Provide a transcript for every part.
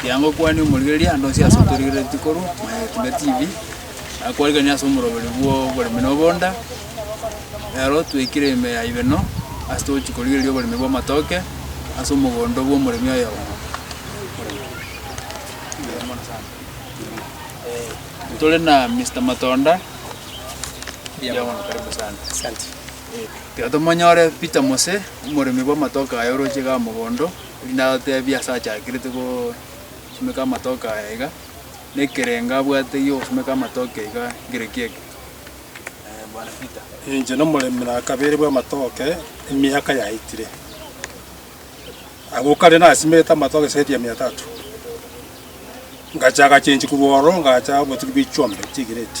Kianga okwane omorigereria ande onsi ase otorigereretie korwa Maya Etinda TV, akwariganie ase omoroberi bw'oboremi na obonda. Ero twaikire ime ya Ibeno ase togochia korigereria oboremi bw'amatoke ase omogondo bw'omoremi oyomo. Tore na Mister Matonda, mbuya mono karibu sana. Tiga tomonyore Peter Mose, omoremi bw'amatoke aya oroche iga mogondo, erinde atotebie ase achakerete gosimeka amatoke aya iga, na ekerengo abwate gi'ogosimeka amatoke iga nkere ki eke? Eh, Bwana Peter. Inche nomoremi na kabere bw'amatoke emiaka yaetire. Agwo kare nasimegete amatoke zaidi ya mia tatu. Ngacha agachenchwa korwa ororo ngacha obotugi bwa chiombe, chigrade.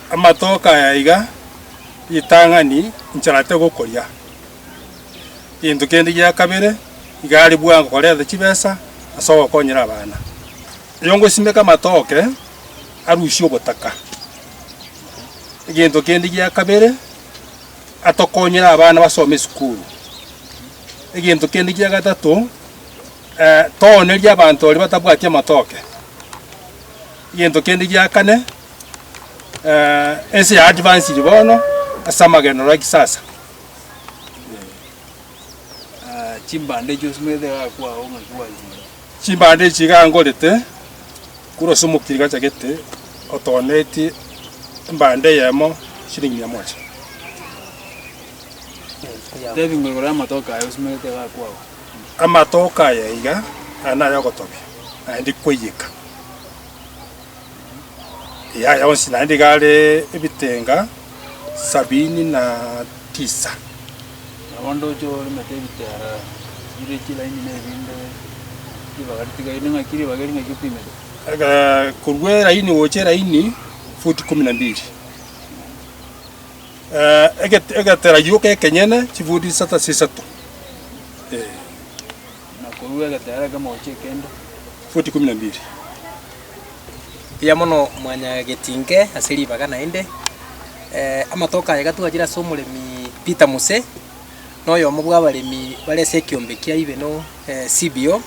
Amatoke aya iga, ritang'ani incharete gokoria. Gento kende gia kabere, iga are bwango koreta chibesa ase ogokonyera abana. Oyongosimeka amatoke, arusie obotaka. Egento kende gia kabere, atokonyere abana basome esukuru. Egento kende gia gatato, toonerie abanto baria batabwati amatoke. Egento kende gia kane. eh, ense ya advanced bono ase amagenderero a kisasa. Ah, chimbande echio simanyete iga akwao ng'aki gwanchire. Chimbande echi iga ngorete, kura ase omokiri gachagete otonetie embande eyemo shilingi mia moja. Tebi ng'a igoro y'amatoke aye osimanyete iga akwao. Amatoke aya iga, aya nay'ogotobia, naende kwaiyeka. Yaya onsi naende iga are ebitenga sabini na tisa. Nabo ndoche oremete ebitera bire chilaini na erinde ribaga ritigaine ng'aki ribaga eri ng'aki opimete? Aka- Korwa eraini gocha eraini, futi kumi na mbiri. Eh, eget- egetera gioka ekenyene, chifuti isata sa isato, eh. na korua egetera ekemo gochia ekende. Futi ikomi na mbiri. Mbuya mono mwanyagetinke ase ribaga naende. Amatuko aya iga twachire ase omoremi Peter Muse, na oyomo bw'abaremi bare ase ekiombe kia Ibeno CBO,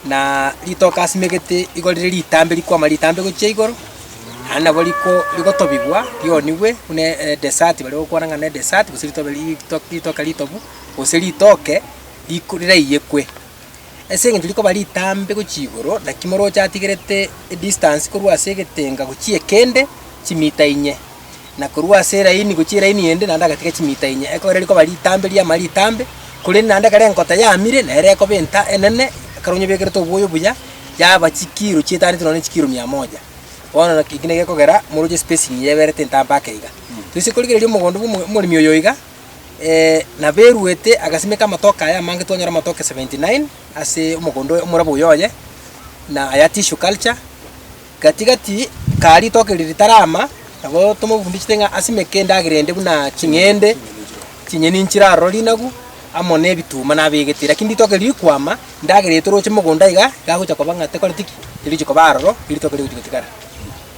na ritoke asimegete igo rire ritambe rikwama ritambe gochia igoro, naende nabo riko rigotobigwa rionigwe buna edesati baria bagokwana ng'a nedesati gose ritobe ritoke ritobu gose ritoke. riku- riraiyekwe, ase engencho rikoba ritambe gochia igoro, naki moroche atigerete edistance korwa ase egetenga gochia ekende, chimita inye, na korwa ase eraini gochia eraini ende naende agatiga chimita inye. Ekero rikoba ritambe riamara ritambe, korende naende ekero enkota yamire, nere ekoba enta enene, ekero onye obekerete oboyo buya, yaba chikiro chietaniete nonya na chikiro mia moja. Bono naki eki naki gekogera moroche espacing yaberete entambe ake iga. Toise korigereria omogondo bwa omo- omoremi oyo iga. naberuete agasimeka amatoke aya amange twanyora amatoke 79 ase omogondo oye omorabwo oyo oye, na aya tissue culture. Gati gati kaa ritoke eri ritarama nabo tomofundichete ng'a asimeke endagera ende buna ching'ende, chinyeni nchiraroro rinagu, amo na ebituma nabegete. Lakini ritoke eri rikwama, endagera eye toroche mogondo iga, iga agocha koba ng'a tekoreti ki? Terigochi koba aroro, eritoke rigochi gotigara.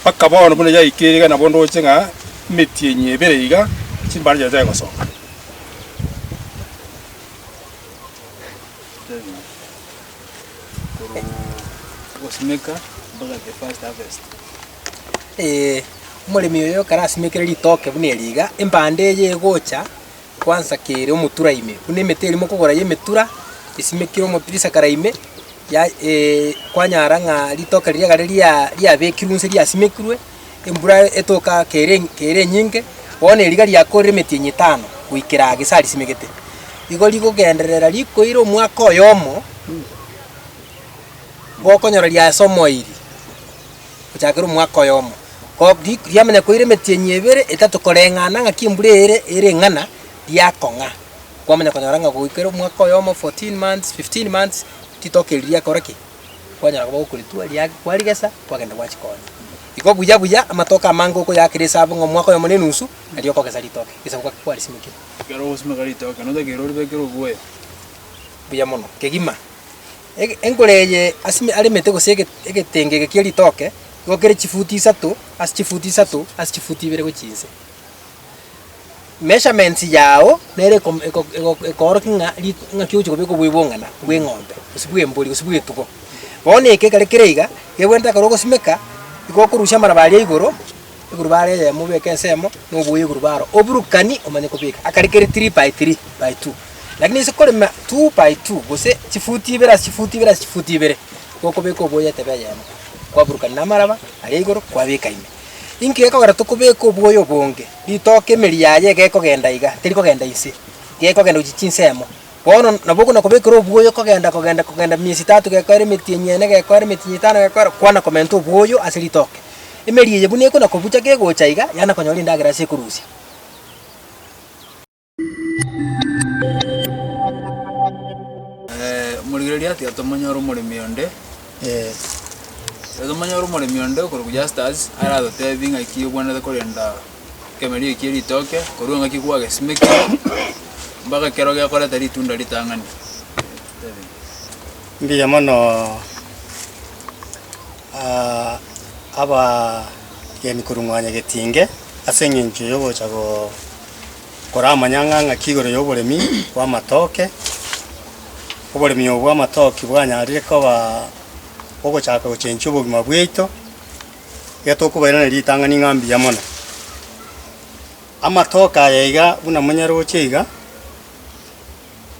mpaka bono buna yaikire iga nabo ndoche ng'a emetienyi ebere iga chimbare chiaye chiaye gosoka. Omoremi oyo ekero asimekire ritoke buna eri iga, embanda eye egocha Kwansakeire omotura ime, buna emete eria mokogora y'emetura esimekire omotirisa kare ime, ya- e- kwanyara ng'a ritoka riria egare ria- riabekirwe nse riasimekirwe, embura etoka kere en- kere enyinge, bono eriga riakoorire emetienyi etano goikera gese arisimegete. Igo rigogenderera rikoire omwaka oyomo, gokonyora riasomoiri. gochakera omwaka oyomo. Ko riku riamo onye koire emetienyi ebere, etato koreng'ana ng'aki embura eyere ere eng'ana, riakong'a. Kwamanya konyora ng'a goikera omwaka oyomo, fourteen months, fifteen months, ritoke eri riakora ki? Kwanyara koba gokoritwa, ria kwarigesa, kwagenda gwachi konya. Iko buya buya amatoke amange okoyaakera esabu ng'a omwaka oyomo na enusu, nario okogesa ritoke, egesabu gaki kwarisimekire. Ekero ogosimeka ritoke, notakeire oribekere obwoya. Buya mono. Kegima. Enkoro eye ase aremete gose egetengege gie ritoke igokire chifuti isato ase chifuti isato ase chifuti ibere gochia inse. Measurements yao nere ekoorokia ng'a ng'aki ogochia kobeka obwebong'ana bw'eng'ombe gose bw'embori gose bw'etugo. Bono eke ekero kere iga, nigo bwenerete ekero ogosimeka, igo okorusia amaraba aria igoro. Eguruba are eyemo obeke ensemo, na oboye eguruba aro oburukani omanye kobeka akare kere three by three by two. Lakini ase korema two by two gose chifuti ibere ase chifuti ibere ase chifuti ibere, gokobeka oboye etebe eyemo, kwaburukania na amaraba aria igoro kwabeka ime. Inki gekogera tokobeka oboye obonge? Ritoke emeri yaye egekogenda iga, terikogenda inse, gekogenda gochia chinsemo. Bono nabo okona kobekera obwoyo kogenda kogenda kogenda miesi etato gekoera emetienyi eye ene gekoera emetienyi eye etano gekoera kwana komenta obwoyo ase ritoke. Emeri eye buna ekona kobucha kegocha iga yana konyora endagera ase ekorusia. Omorigereria atiga tomonyore omoremi onde tomonyore omoremi onde okorokwa Justus aratotebie ng'aki obwenerete korenda. ekemerio ekie ritoke korwa engaki kwagesimekire mpaka ekero gekoreta ritunda ritang'ani. Mbuya mono ah, abageni korwa mwa Nyagetinge ase eng'encho yogocha go- kora amanyang'a ng'aki igoro y'oboremi bw'amatoke. Oboremi obo bw'amatoke bwanyarire koba ogochaka gochenchia obogima bwaito. iga tokobairaneria ritang'ani ng'a mbuya mono. Amatoke aya iga buna monyaroche iga,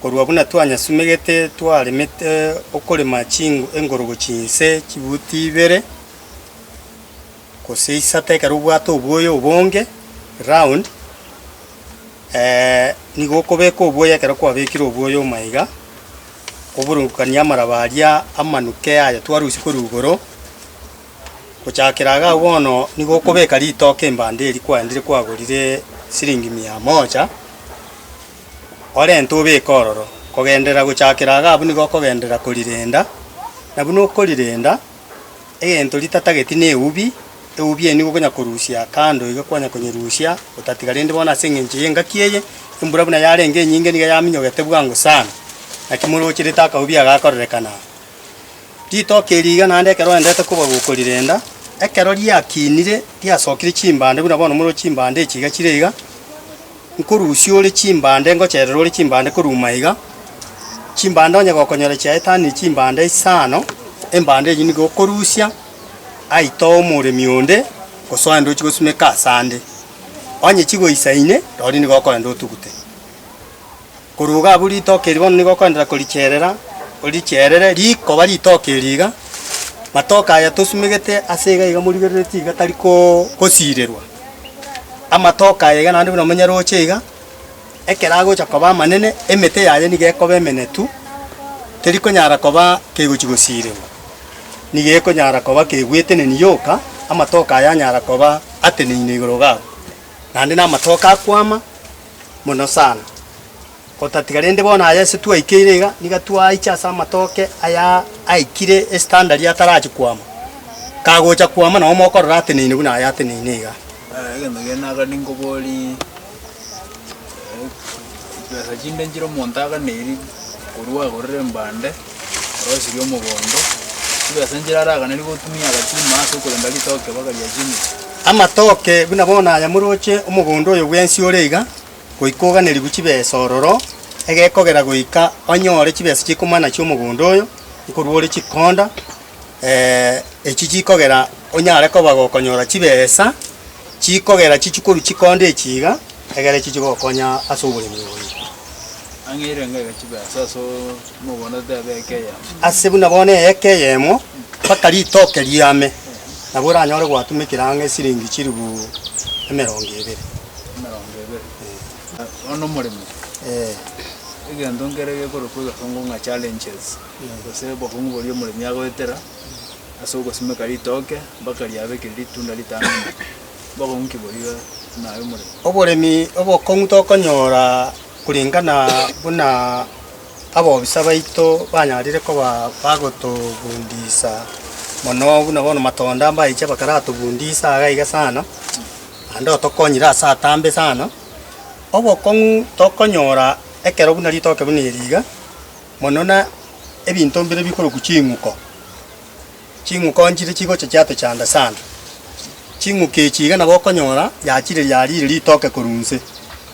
korwa buna twanyasumegete twaremete okorema chingo engorogo chinse chibuti ibere gose isato ekero obwate oboyo obonge round, nigo okobeka oboyo ekero kwabekire oboyo omo iga, oburungukanie amaraba aria amanuke aya twarusia korwa igoro. Gochakera iga bono nigo okobeka ritoke embanda eria kwaendire kwagorire siringi mia moja, orente obeke ororo. Kogenderera gochakera iga abwo nigo okogenderera korirenda, na buna okorirenda, egento ritatageti na eubi, eubi eye nigo okonya korusia kando iga kwanya konyerusia otatiga. Rende bono ase eng'encho y'engaki eye, embura buna yarenge enyinge niga yaminyogete bwango sana, naki morocherete akaubi aka gakorerekana. Ritoki eri iga naende ekero oendete koba gokorirenda, ekero riakinire riasokire chimbande buna bono more chimbande echi iga chire iga, nkorusia ore chimbande ngocherere ore chimbande koruma iga, chimbande onye gokonyora chiaetanire chimbande isano, embande enyio nigo okorusia aye itoe omoremi onde gose oende ochie gosimeka asande. Onye chigoisaine, roria nigo okoenda otugute. Korwa igo abwo ritoke eri bono nigo okoenderera koricherera, oricherere rikoba ritoke eri iga, matoke aya tosumegete ase iga iga morigerereti iga tari ko kosirerwa. Amatoke aya iga naende buna omonyaroche iga, ekero agocha koba amanene, emete yaye niga ekoba emenetu, teri konyara koba kegochi gosirerwa, niga ekonyara koba kegweteneni yoka, amatoke aya anyara koba ateneine igoro iga abwo, naende na amatoke akwama. mono sana, otatiga rende bono aya ase twaikeire iga, niga twaiche ase amatoke aya aikire estandari atarachi kwama, kagocha kwama nabo mokorora ateneine buna aya ateneine iga. Aya egento kiane aka ninkoborie, chibesa chinde nchire omonto aganeirie korwa agorere mbande. Orosi ri'omogondo, tari ase enchera araganeri gotumia agachima ase okorenda ritoke mpaka riachimire. Amatoke buna bono aya moroche omogondo oyo bwensi ore iga, goika oganerigwe chibesa ororo, egekogera goika onyoore chibesa chi'ekomana chi'omogondo oyo, nikorwa ore chikonda. echi chikogera onyare koba gokonyora chibesa, chikogera chichikoru chikonde echi iga, egere echi chigokonya ase oboremi oye. Ang'eire enga iga chibesa ase omoganda otebe eke eyemo. Ase buna bono eeka eyemo, mpaka ritoke riame, nabo oranyore gwatumekire ang'e siringi chilifu emerongo ebere. Emerongo ebere. Bono omoremi, egento nkere gekorokwa iga songo ng'a challenges. na gose obokong'u boria omoremi agoetera ase ogosimeka ritooke mpaka riabe keri ritunda ritano omwaka, obokong'u ki boria naye omoremi? Oboremi obokong'u tokonyora korengana buna abobisa baito banyarire koba bagotobundisa mono buna bono matonda mbayiche bakaratobundisa iga iga sana, naende otokonyire ase atambe sana. Obokong'u tokonyora ekero buna ritoke buna eri iga, mono na ebinto mbire bikorokwa ching'uko. Ching'uko nchire chigocha chiatochanda sana. Ching'uko echi iga nabo okonyora yachire yariire ritoke korwa inse.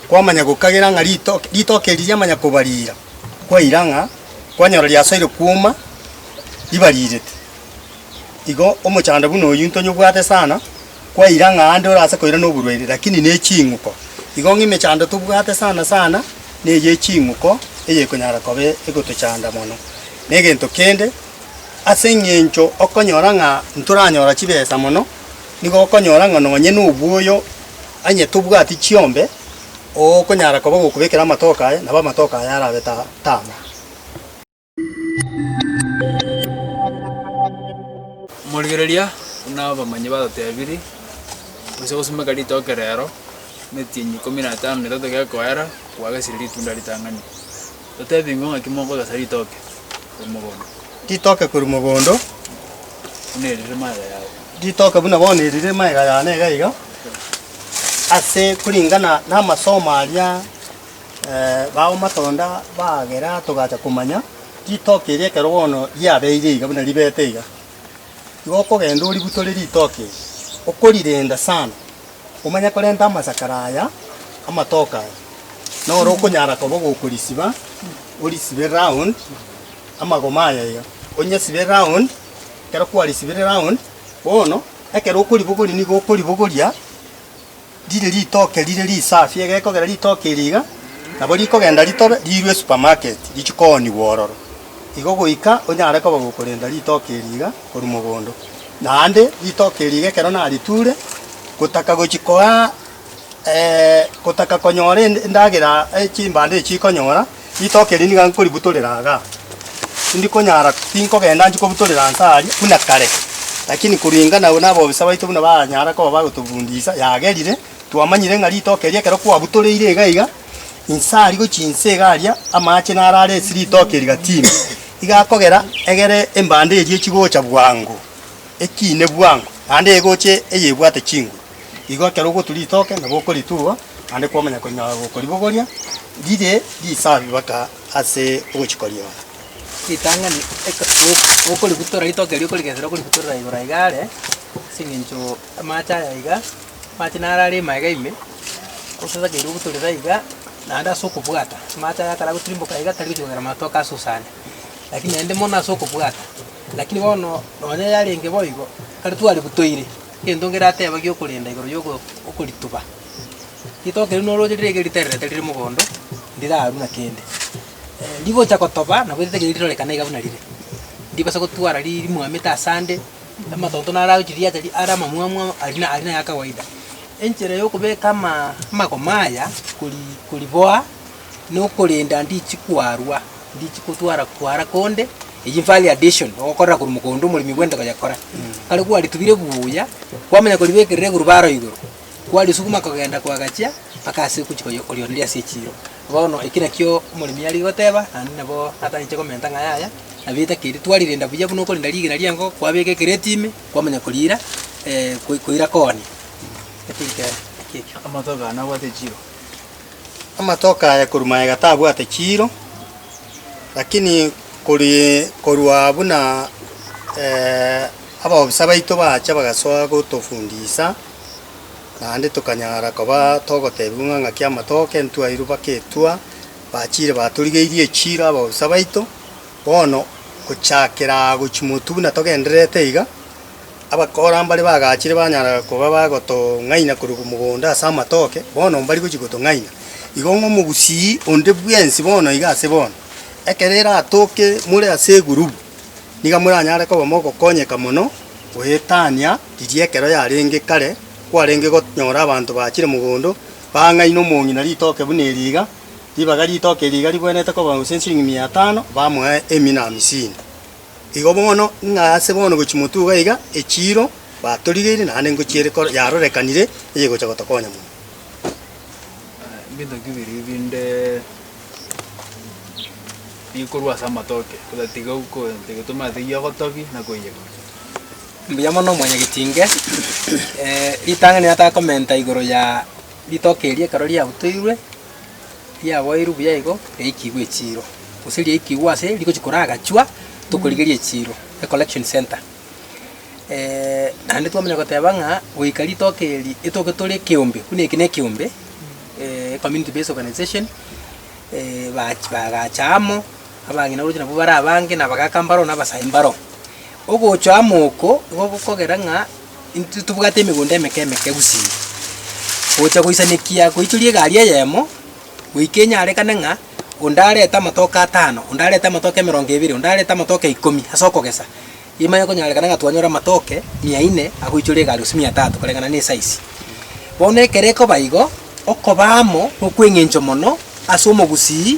Kwamanya gokagera ng'a ritoke ritoke eri riamanya kobarira, kwaira ng'a kwanyora riasoire kwoma ribarirete. Igo omochando buna oyio ntonyobwate sana. kwaira ng'a aande ore ase koira noborwaire, lakini ne ching'uko. Igo ng'a emechando tobwate sana sana neye ye ching'uko eyekonyara koba egotochanda mono. Na egento kende, ase eng'encho okonyora ng'a ntoranyora chibesa mono, nigo okonyora ng'a nonye na obwoyo onye tobwati chiombe, okonyara koba gokobekera amatoke aye, nabo amatoke aye arabe ta tama. Omorigereria buna abamanyi batotebirie, onsi ogosimeka ritoke rero, emetienyi ikomi na etano na etato gekoera, kwagesire ritunda ritang'ani. Totebi ng'o ng'aki mokogesa ritoke korwa mogondo? Ritoke korwa mogondo. Buna eri rire magega yao. Ritoke buna bono eri rire magega yane iga iga, ase koringana namasomo aria. Baomatonda bagera togacha komanya ritoki erio ekero bono riabeire iga buna ribete iga. Igo okogenda oributore ritoki eri, okorirenda sana omanye korenta amasakara aya amatoke aya, noro okonyara koba ogokorisiba, orisibe round amagoma aya iga, onyesibe round, ekero kwarisibire round, bono ekero okoribogoria nigo okoribogoria Rire ritoke rire risafi, egekogera ritoke eri iga, nabo rikogenda ritobe, riirwe esupermarket, richie koonigwa ororo. Igo goika onyare koba gokorenda ritoke eri iga korwa mogondo. Naende ritoke eri iga ekero nariture, gotaka gochia koa gotaka konyora endagera chimbando echi ikonyora. Ritoke eri niga nkoributorera iga, tindikonyara, tinkogenda nchie kobutorera inse aria buna kare, lakini koringana nabobisa baito buna baranyara koba bagotobundisa, yagerire, twamanyire ng'a ritoke eri ekero kwabutoreire iga iga, inse aria gochia inse iga aria amache naro are ase ritoke rigatime, iga akogera egere embande eria echigocha bwango, ekiine bwango, naende egoche eyebwate chinguru. Igo ekero ogotwa ritoke nabo okoritugwa, naende kwamanya konya gokoribogoria rire risafi baka ase ogochiko riao. Ritang'ani eke o- okoributora ritoke erio okorigesera okoributorera igoro aiga are, ase eng'encho amache aya iga, amache naro are ime aiga ime, gose takeire obutorere aiga, naende ase okobwata, amache aya ekero agotirimboka aiga tari gochia kogera matoke asusane, lakini naende mono ase okobwata. Lakini bono nonye yarenge boigo, ekero twaributoire. Egento ngeratebage okorenda igoro y'okorituba, ritoke riria norooche riria eke ritererete rire mogondo, ndirarwu na kende. Rigocha gotoba nabo ritaiyo rirorekana iga buna rire, ndibasa gotwara ri- rimwamete ase ande, amatonto naro agochia riacha ri are amamwamu amo aria na aria naya kawaida. Enchera yokobeka amaa amagoma aya kori koriboa, nokorenda ndichi kwarwa. Ndichi kotwara kwara konde, eyio value addition, ogokorera korwa mogondo omoremi bw'ente koyekora. Kare kwaritubire buya, kwamanya koribekerera egurubaro igoro, kwarisuguma kogenda kwagachia mpaka ase ogochi koyi korioreria ase echiro. Bono eki nakio omoremi are goteba, naende nabo atagete komenta ng'a yaya, nabo etakeri twarirenda buya buna okorenda rigena ri'enkoko, kwabeka ekereti ime, kwamanya koriira koira kooni. Naki ekero, naki ekio. Amatuko aya nabwate echiro. Amatoke aye korwa magega tabwate chiiro, lakini kori korwa buna abaobosa baito bacha bagasoa gotofundisa, naende tokanyara koba togotebiwa ng'a ng'aki amatoke ntwairwe baka etua, bachire batorigeirie echiiro abaobosa baito. Bono gochakera gochia motwe buna togendererete iga. Abakora mbare bagachire banyara koba bagotong'aina korwa mogondo ase amatoke, bono mbari gochia gotong'aina. Igo ng'a omogusii onde bwensi bono iga ase bono, ekero eratoke more ase egurubu, niga moranyare koba mogokonyeka mono goetania riria ekero yarenge kare, kwarenge gonyora abanto bachire mogondo, bang'aina omong'ina na ritoke buna eri iga, ribaga ritoke eri iga ribwenerete koba gose nsirigi mia etano, bamoe emina amisini. Igo bono, ng'a ase bono gochia motuga iga, echiiro batorigeire naende ngochia ere yarorekanire eyegocha gotokonya mono. Ebinto bibiri binde bikorwa ase amatoke, otatiga gotomaa teyia ogotobi na koiyegora. Mbuya mono mwanyagetinge, ritang'ani natakomenta igoro ya ritoke eria ekero riabutoirwe. riaboirwe buya igo riaikigwe echiiro, gose riaikigwe ase rigochia koragachwa tokorigeria echiiro, ecollection centre. Naende twamanya goteba ng'a goika ritoke eri etoke tore ekeombe, buna eke nekeombe ecommunity based organization bach bagacha amo, abang'ina oroche nabwo bare abange, na abagaka mbaro, na abasae mbaro. Ogocha amo oko igo gokogera ng'a. Intwe tobwate emegondo emeke emeke gusii, gocha goisanekia goichoria egari eyemo, goika enyarekane ng'a onde arete amatoke atano, onde arete amatoke emerongo ebere, onde arete amatoke ikomi ase okogesa, emanye konyarekana ng'a twanyore amatoke mia ine agoichoria egari gose mia tatu koreng'ana na esize. Bono ekero ekoba igo, okoba amo nokweng'encho mono ase omogusii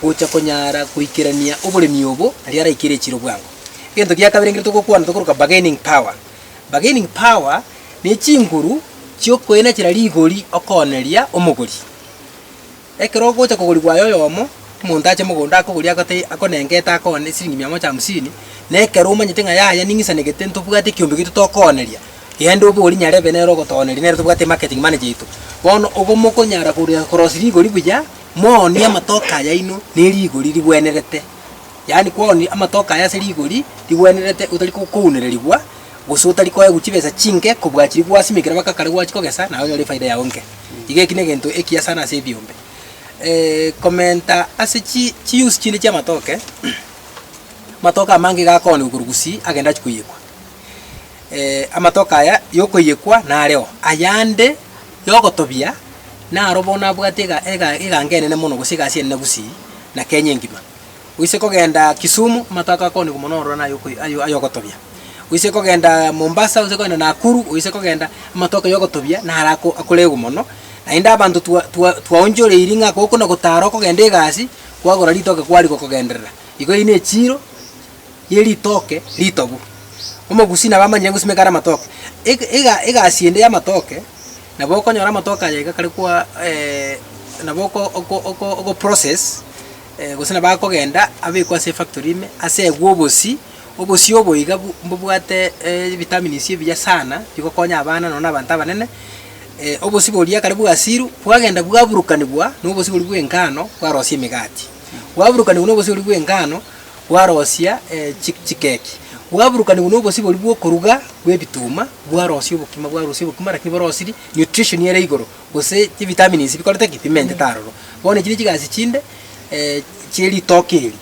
gocha konyara goikerania oboremi obo, aria araikere echiro bwango. Egento gia kabere ekero togokwana tokoroka bargaining power. Bargaining power ne chinguru chi'okoina chire rigori okooneria omogori. Ekero ogocha kogori bwaye oyomo, omonto ache mogondo akogorie agote akonenga ete akoone esiringi mia moja hamsini, na ekero omanyete ng'a yaya ning'isanegete ntobwate ekiombe gito tokooneria, genda obori nyarebe nere ogotooneria nere tobwate marketing manager yaito. Bono obo mokonyara kore korosia rigori buya, moonie amatoke ayaino ne rigori rigwenerete. yaani kwonia amatoke aya ase rigori rigwenerete otari kounererigwa, gose otari koegwa chibesa chinke kobua chiria gwasimekire mpaka kare gwachi kogesa, naye onyore efaida yao enke. Iga eki negento ekiya sana ase ebiombe. komenta ase chi chiuse chinde chiamatoke, amatoke amange iga akoonigwa korwa gusii agende achie koiyekwa. amatoke aya yokoiyekwa nareo, ayande yogotobia naro bono abwate ega ega eganga enene mono gose egasi enene gusii na Kenya engima. Oise kogenda Kisumu, amato ako akoonigwa mono ororo naye oko ayo ay'ogotobia. Oise kogenda Mombasa, oise kogenda Nakuru, oise kogenda amato ako y'ogotobia naro ako akoregwa mono. Naende abanto twa twa twaonchoreiri ng'a gokona gotara okogenda egasi, kwagora ritoke kwarigia okogenderera. Igo eyio nechiiro ye ritoke ritobu. Omogusii nabo amanyire ng'o simeka are amatoke. Eg ega egasi ende y'amatoke, nabo okonyora amatoke aya iga kare kwa nabo oko oko oko ogo process. Gose nabo akogenda abekwe ase efactory ime, ase egwe obosii, obosii obo iga bu mbobwate ebitamins ebiya sana bigokonya abana nonya na abanto abanene, obosii boria ekare bwasiru bwagenda bwaburukanigwa na obosii boria bwa engano bwarosia emegati, bwaburukanigwa na obosii boria bwa engano bwarosia chi chikeki, bwaburukanigwa na obosii boria bwa okoruga bwa ebituma bwarosia obokima bwarusia obokima lakini borosiri nutrition ere igoro. Gose chivitamins bikorete ki? Bimentete aroro. Bono echi nechigasi chinde chieritoke eri.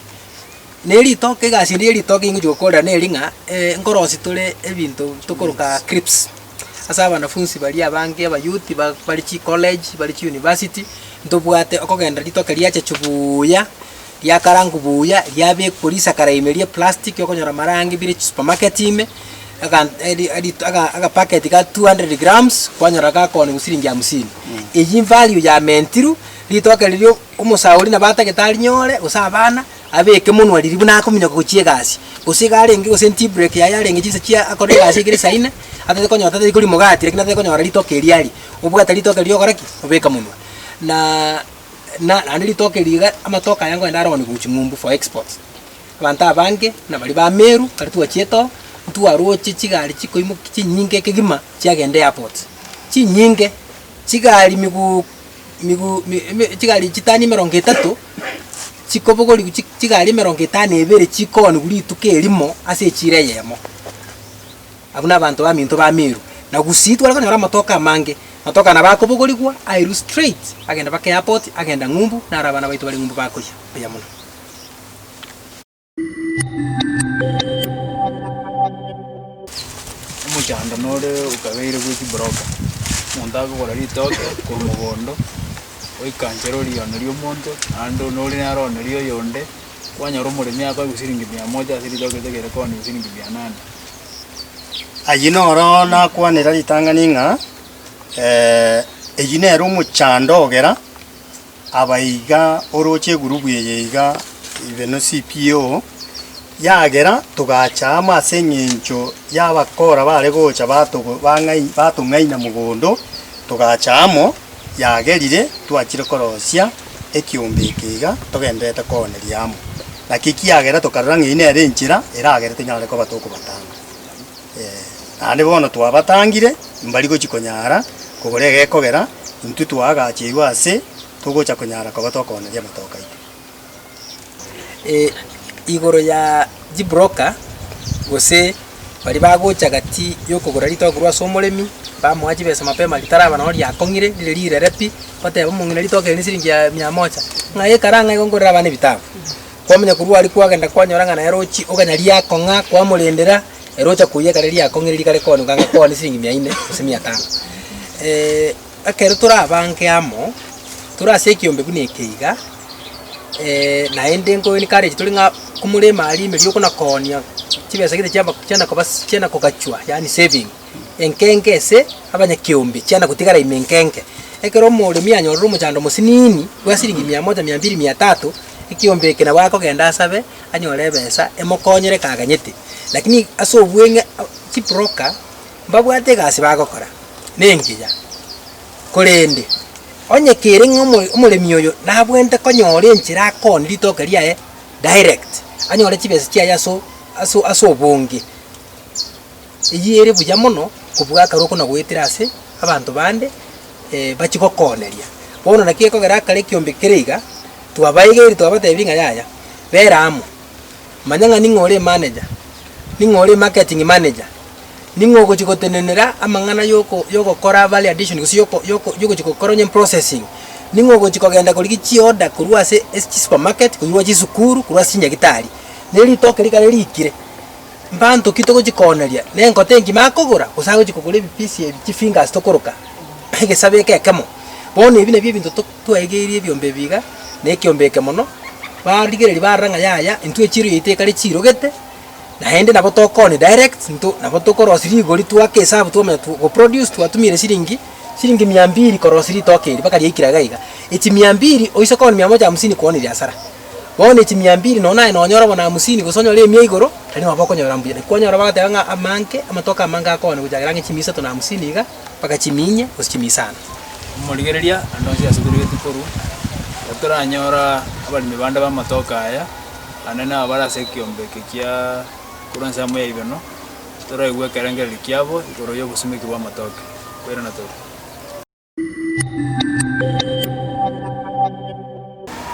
Na eritoke egasi ende yeritoke ingochi gokorera neri ng'a nkorosi tore ebinto tokoroka crips, ase abanafunsi baria abange abayouth ba bare chicollege, bare chiuniversity, ntobwate okogenda ritoke riacha chubuuya. riakarangwa buya, riabekwa risakara ime ria eplastic okonyora amarangi bire chisupermarket ime, agan eri erito aga agapacket ga two hundred grams kwanyora gakoonigwa siringi hamsini. Eyio invalue yamentirwe, ritoke riria omosauri nabo atagete arinyore gose abana, abeke monwa riria buna akominyoka gochia egasi. Gose iga arenge gose tea break yaye arenge chinsa chia akore egasi ekere saa ine, atete konyora tari korimogatia lakini atete konyora ritoke erio aria, obwate ritoke riria ogora ki? Obeka monwa. Naaaa. na naende ritoke eri iga amatoke aya ngoende aroni gochia ng'umbu for exports. Abanto abange na baria ba Meru ekero twachiete oo, ntwaroche chigari chikoimoki chinyinge kegima chiagenda airport, chinyinge, chigari miguu miguu mi eme chigari chitani emerongo etato chikobogorigwa chi chigari emerongo etano na ibere chikooniwa rituko erimo ase echiro eyemo. Abwo nabanto baminto ba Meru. Na gusii tware konyora amatoke amange. Amatoke aya nabo akobogorigwa airwe straight agenda baka airport agenda ng'umbu naro abana baito bare ng'umbu bakoyia buya muno. Omochando nore okabeire bwe chibroka. Omonto akogora ritoke korwa mogondo oikanchere oriono riomonto naende one ore naro one rioyonde. kwanyora omoremi akoe gosiringi mia moja ase ritoke rinde kere koni gosiringi mia nane. Ayio noro nakwanera ritang'ani ng'a eyio nere omochando ogera aba iga oroche egurubu eye iga ibe no CPO, yagera togacha amo ase eng'encho y'abakora bare gocha batogo bang'ai batong'aina mogondo togacha amo. yagerire twachire korosia ekiombe eke iga togendererete kooneria amo. Naki ekiagera tokarora ng'a eyio nere enchera eragere tonyare koba tokobatanga. Ee, naende bono twabatangire, mbari gochia konyara kogora egekogera, intwe twaagacheiwe ase togocha konyara koba tokooneria amatoka aito. igoro ya chibroker gose baria bagocha gati yokogora ritogo korwa ase omoremi, bamoa chibesa mapema ritaraba noro riakong'ire rire rirere pi, bateba omong'ina ritogo eri nesiringi ya mia moja, ng'ai ekara ng'ai igo ngorere abana ebitabu. Kwamanya korwa aria kwagenda kwanyora ng'a naye rochi okanya riakong'a, kwamorendera, ere ocha koiyia ekare riakong'ire rikare kooneka ng'a koone siringi mia ine gose mia tano. Ekero torabange amo tore ase ekeombe buna eke iga, naende nkoencourage tore ng'a komorema aria emerio okonakonia chibesa gete chiabo chiana koba chiana kogachwa yaani saving, enkenge ase abanyakeombe chiana gotigara ime enkenge. Ekero omoremi anyorire omochando mosiniini bwa siringi mia moja, mia mbiri, mia tatu, ekeombe eke nabo akogenda asabe anyore ebesa emokonyere ekaganyete. Lakini ase obweng'e chibroka Mbabwate egasi bagokora nengiya, korende onye kere ng'a omoremi oyo nabwenerete konyora enchera akooni ritoke riaye direct, anyore chibesa chiaye ase ase obonge, eyio ere buya mono kobua akarwa okona goetera ase abanto bande bachie gokooneria. Bono naki gekogera akare ekiombe kere iga, twabaegeiri twabatebirie ng'a yaya, bera amo, Manya ng'a ning'o ore maneja, ning'o ore marketing manager, ning'o ogochi gotenenera amang'ana yoko yogokora value addition gose yoko yoko yogochi gokora onye processing, ning'o ogochi kogenda korigia chioda korwa ase ase chisupermarket, korwa chisukuru, korwa ase chinyagitari. Ne ritoke rikare riikire, mbanto ki togochi kooneria? Ne engote engima akogora gose agochi kogora ebipisi ebi chifingers tokoroka egesabe eke ekemo? Bono ebi nabio ebinto to. Twaigeirie ebiombe ebiiga na ekiombe eke mono, barigereria barora ng'a yaya, intwe echiiro yaito ekare chiirogete, naende nabo tokoni direct into nabo tokorosi rigori twake esabu twamanya tu go produce twatumire siringi siringi mia mbiri korosi ritoke eri mpaka riaikire iga iga. Echi mia mbiri oise koni mia moja hamsini koni riasara. Bono echi mia mbiri nonye naye nonyore bono hamsini gose onyore emia igoro, tari nabo okonyora mbuya. Naki kwanyora bagateba ng'a amanke, amatoke amange akogana gochakera ang'e chimia isato na hamsini iga. bagachimiinyia gose chimisaano. Omorigereria naende onsi asobereretie korwa, ekero toranyora abaremi bande b'amatoke aya, naende nabo bare ase ekeombe eke kia korwa nse amo y'eirano, toraigwe ekerengererio kiabo igoro y'obosumeki bw'amatoke, koirana tore.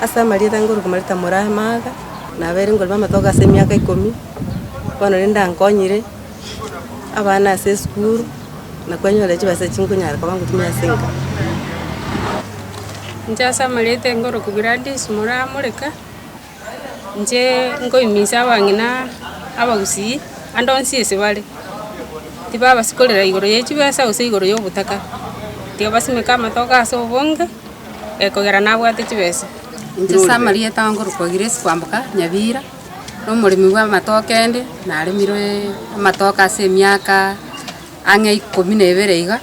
Ase amarieta ngoruka mareta Murahe Martha, nabeire ngorema amatoke ase emiaka ikomi, bono rende ankonyire. abana ase esukuru, na kwanyora chibesa echio nkonyara koba ngotumia ase enka. Inche ase amariote nkoroku Gladys Moramoreka, inche nkoiminsa abang'ina abagusii, ande onsi ase bare, tibabasikorera igoro ye chibesa gose igoro ya obotaka, tiga basimeke amatoke ase obonge, ekogera nabwate chibesa. Inche ase amarieta nkorokwa Grace Kwamboka Nyabira. nomoremi bw'amatoke ende, naremire amatoke ase emiaka ang'e ikomi na ebere iga,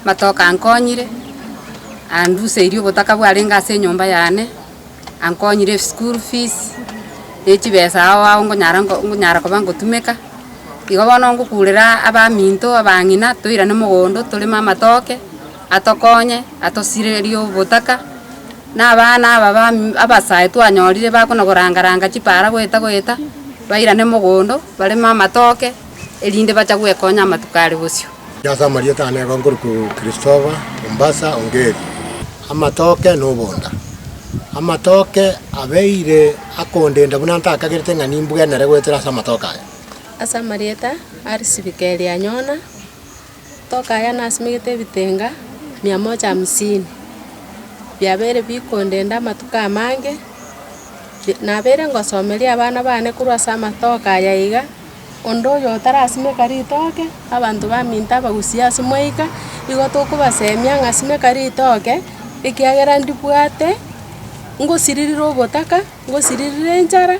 amatoke ankonyire, anduseirie obotaka bwarenge ase enyomba yane, ankonyire school fees, ne chibesa ao ao ngonyara nko ngonyara koba ngotumeka, igo bono ngokurera abaminto, abang'ina, toirane mogondo toreme amatoke, atokonye, atosirerie obotaka, Na abana aba abasae twanyorire bakona goranga-ranga chipaara goeta-goeta, bairane mogondo, bareme amatoke, erinde bacha gwekonya amatuko are bosio. Ase amarieta aane igo nkorokwa Christopher, Mombasa, Ongeri. Amatoke na obonda. Amatoke abeire akondenda buna ntakagerete ng'a nimbwenere goetera ase amatoke aya. Ase amarieta a risirika eri anyona. Tokaya nasimegete ebitenga mia moja hamsini, biabeire bikondenda amatuko amange, nabeire ngosomeria abana bane korwa ase amatoke aya iga, onde oyo otarasimeka ritoke, abanto baminto abagusie ase mwaika, igo tokobasemia ng'a simeka ritoke, ekiagera ndibwate, ngosiririre ogotaka, ngosiririre enchara,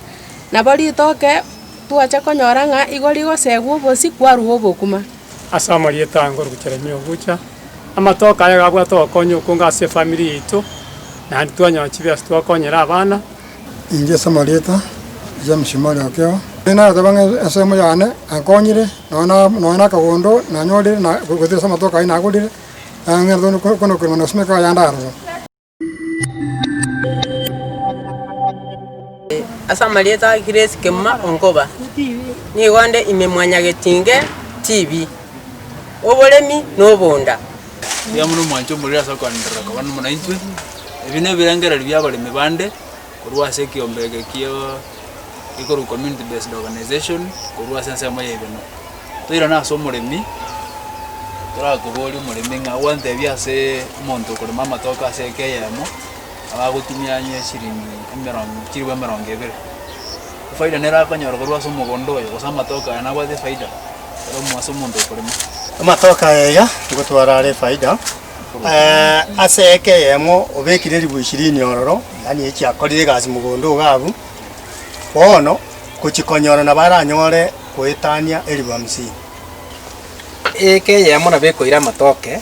nabo ritoke twacha konyora ng'a igo rigosegwa obosio, kwarwa obokima. Ase amarieta ange Orogocherania ogocha, amatoke aya gabwate ogokonya okonge ase efamiri yaito, naende twanyora chibiasi twakonyere abana. Inche ase amarieta James Mori Okeo, narateba ng'a ensemo yane yankonyire nonya na akagondo nanyorire gose ase amatoke ayio nagorire, nang'entete konakorerwa na gosimeka yande aroro. Ase amarieta a Grace Kemuma Onkoba, nigo nde ime mwanyagetinge TV, oboremi na obonda. Taiyo buna omwancha omoriri ase okoanderera koba nomo naintwe. Ebi nebirengererio bi'abaremi bande, Korwa ase ekiombe eke kia ekorwa Community Based Organization korwa ase ensemo ya Igena. Toirane ase omoremi, torakoborie omoremi ng'a gwantebie ase omonto okorema amatoke ase eke eyemo abe agotumia onye eshiringi emerongo chilifu emerongo ebere. Efaida nere akonyora korwa ase omogondo oyo gose amatoke aya nabwate efaida ero ase omonto okorema. Amatoke aya iga nigo twarare efaida. Ase eke eyemo obekire ribu ishirini ororo, yaani echi akorire egasi mogondo iga abwo, bono gochia konyora nabo aranyore goetania eribu hamsini. Eke eyemo nabo ekoira amatoke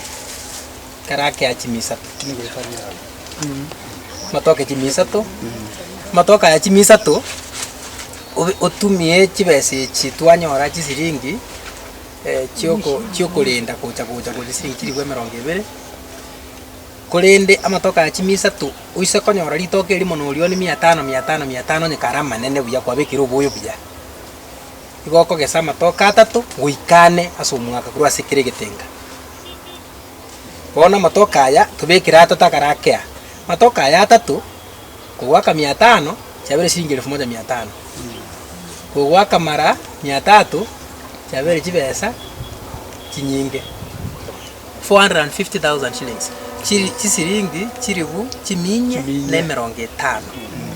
ekero akea chimi isato, amatoke chimi isato, amatoke aya chimi isato obe- otumie chibesa echi twanyora chisiringi. chi'okorenda gocha gocha gocha siringi chilifu emerongo ebere, korende amatuko aya chimia isato oise konyora rituko erimo na orioni mia tano mia tano mia tano onye kare amanene buya kwabekire oboyo buya. Igo okogesa amatuko atato goika ane ase omwaka korwa ase kera egetenga. Bono amatuko aya tobekire atato akare akea, amatuko aya atato. kogoaka mia tano, chiabeire chiringi elifu moja mia tano. Kogoaka mara mia tato, chiabeire chibesa chinyinge, 450,000 shillings, chiri chisiringi chilifu chiminyia Chiminyia. na emerongo etano,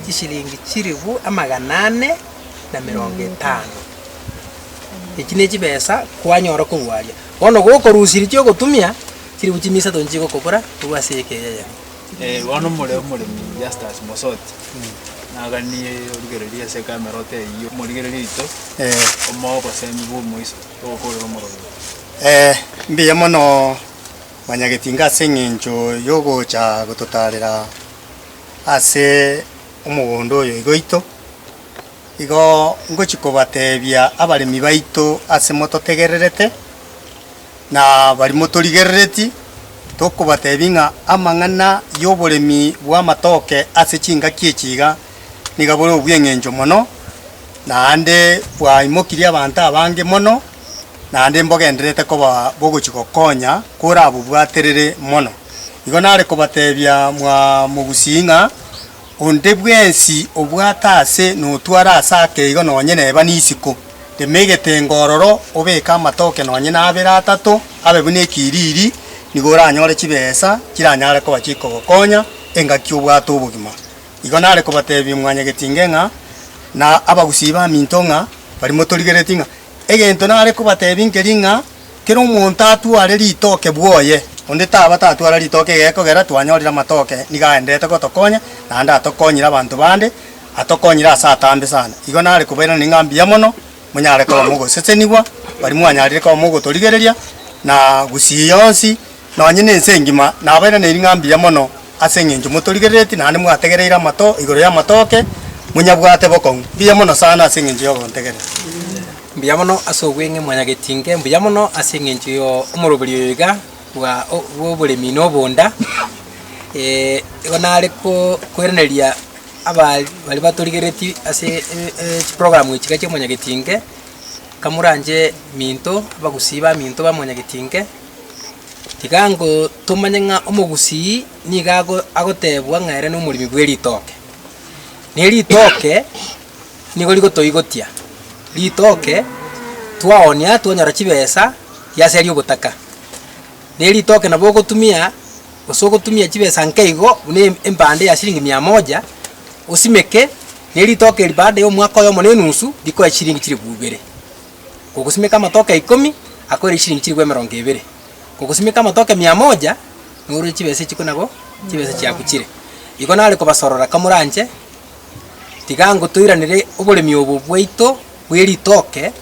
chisiringi chilifu amagana ane na emerongo etano. Echi nechibesa kwanyora korwa aria. Bono gokorusia eri chiogotumia, chilifu chimisato nichigokobora korwa ase eyeka eye yane. Eh, bono more omoremi Justus Mosoti naganie origereria ase ekameroti eyio omorigereria oito Eh, omoa obosemi bw'omoiso togokorera omorombe eh, mbuya mono Mwanyagetinga ase eng'encho yogocha gototarera ase omogondo oyo iga oito. Igo ngochi kobatebia abaremi baito ase mototegererete. na baria motorigerereti, tokobatebia ng'a amang'ana y'oboremi bw'amatoke ase chingaki echi iga niga bore obweng'encho mono, naende bwaimokirie abanto abange mono, naende mbogendererete koba bogochi gokonya korabobwaterere mono. Igo nare kobatebia mwa mogusii ng'a Onde bwensi obwate aase notware aase ake igo nonye neba nisiko. Rema egetenga ororo, obeke amatoke nonye nabere atato, abe buna ekiriri, nigo oranyore chibesa chiranyare koba chikogokonya engaki obwate obogima. Igo nare kobatebia mwanyagetinge ng'a, na abagusii baminto ng'a, baria motorigeretie ng'a, Egento nare kobatebia nkeri ng'a, Kera omonto atware ritoke bwoye, onde taba tatwara ritoke gekogera twanyorire amatoke nigo aenderete gotokonya, naende atokonyire abanto bande, atokonyire ase atambe sana. Igo nare kobairaneria ng'a mbuya mono monyare koba mogosesenigwa, baria mwanyarire koba mogotorigereria na gusii yonsi, Nonye nense engima nabaire ne ring'a mbuya mono ase engencho motorigerereti naende mwategereire amato igoro y'amatoke, monyabwate bokong'u mbuya mono sana ase engencho y'ogontegerera. Mbuya mono ase obweng'e mwanyagetinke mbuya mono ase engencho yo omorobori oyo iga bwa bw'oboremi na obonda, igo nare ko koiraneria aba baria batorigerereti ase chiprogramu echi iga chi'omonyagetinke, kamoranche minto abagusii ba minto ba omonyagetinke. Tiga ntomanye ng'a omogusii nigo ago agotebwa ng'a ere nomoremi bw'eritoke. Na eritoke nigo rigotoigotia, ritoke twaoonia twanyora chibesa riaseria ogotaka. Na eritoke nabo ogotumia gose ogotumia chibesa nke igo buna em- empande ya siringi mia moja, osimeke, na eritoke eri baada ya omwaka oyomo na enusu, rikoe chiringi chilifu ibere. Kogosimeka amatoke ikomi akoire chiringi chilifu emerongo ebere, kogosimeka amatoke mia moja nourwe chibesa echikwe nabo chibesa chiaku chire. Igo nare kobasorora kamoranche, tiga ngo toiranere oboremi obo bwaito bwe ritoke,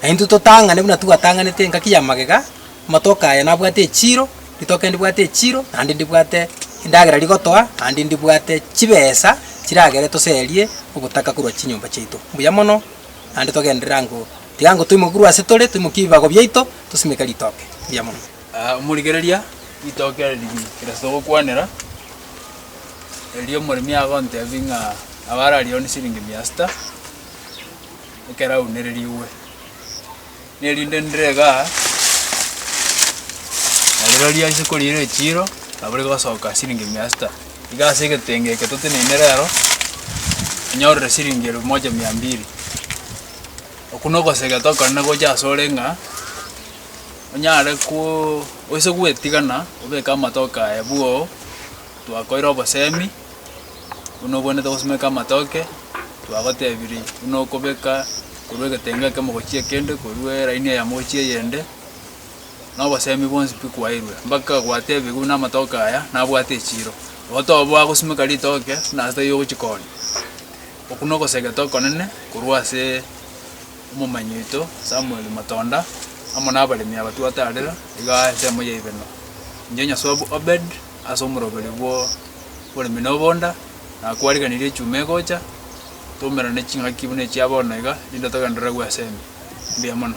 naintwe totang'ane buna twatang'anete engaki ya magega, amatoke aya nabwate echiro, ritoke ndibwate echiro, naende ndibwate endagera rigotoa, naende ndibwate chibesa chiragere toserie ogotaka korwa chinyomba chiaito. Mbuya mono. naende togenderere ango, tiga ango toimokerwe ase tore, toimokie ebibago biaito, tosimeke ritoke ria monwe. Aa, omorigereria, ritoke ere rigiya, kerase togokwanera, erio omoremi agontebie ng'a abare aria one siringi mia sita, ekero aunererigwe. nerinde ndire iga, na rirorio ase koriira echiiro, nabo rigosoka siringi mia sita. Iga ase egetenge eke toteneine rero, inyorire siringi elfu moja mia mbili. Okwo na ogosegete okorende gocha ase ore ng'a, onyare koo oise gwetigana obeke amatoke aye bwoo, twakoire obosemi. buna obwenerete gosimeka amatoke, twagotebirie buna okobeka korwa egetenga ekemo gochia ekende, korwa eraini eyemo gochia eyende, na obosemi bwonsi pi kwaeirwe, mpaka gwatebiwu buna amatoke aya nabwate echiro. Igo toboa gosimeka ritoke buna ase taiyo ogochia koonia. Okwo na ogosegete okonene korwa ase omomanyi oito Samuel Matonda, amo na abaremi aba twataarer igaa ensemo ya Ibeno. Inche Nyasuabu Obed. ase omoroberi bw'oboremi na obonda, na kwariganirie echuma egocha, twaumerane ching'aki buna echia bono iga, rinde togendererwe ase ime. Mbuya mono.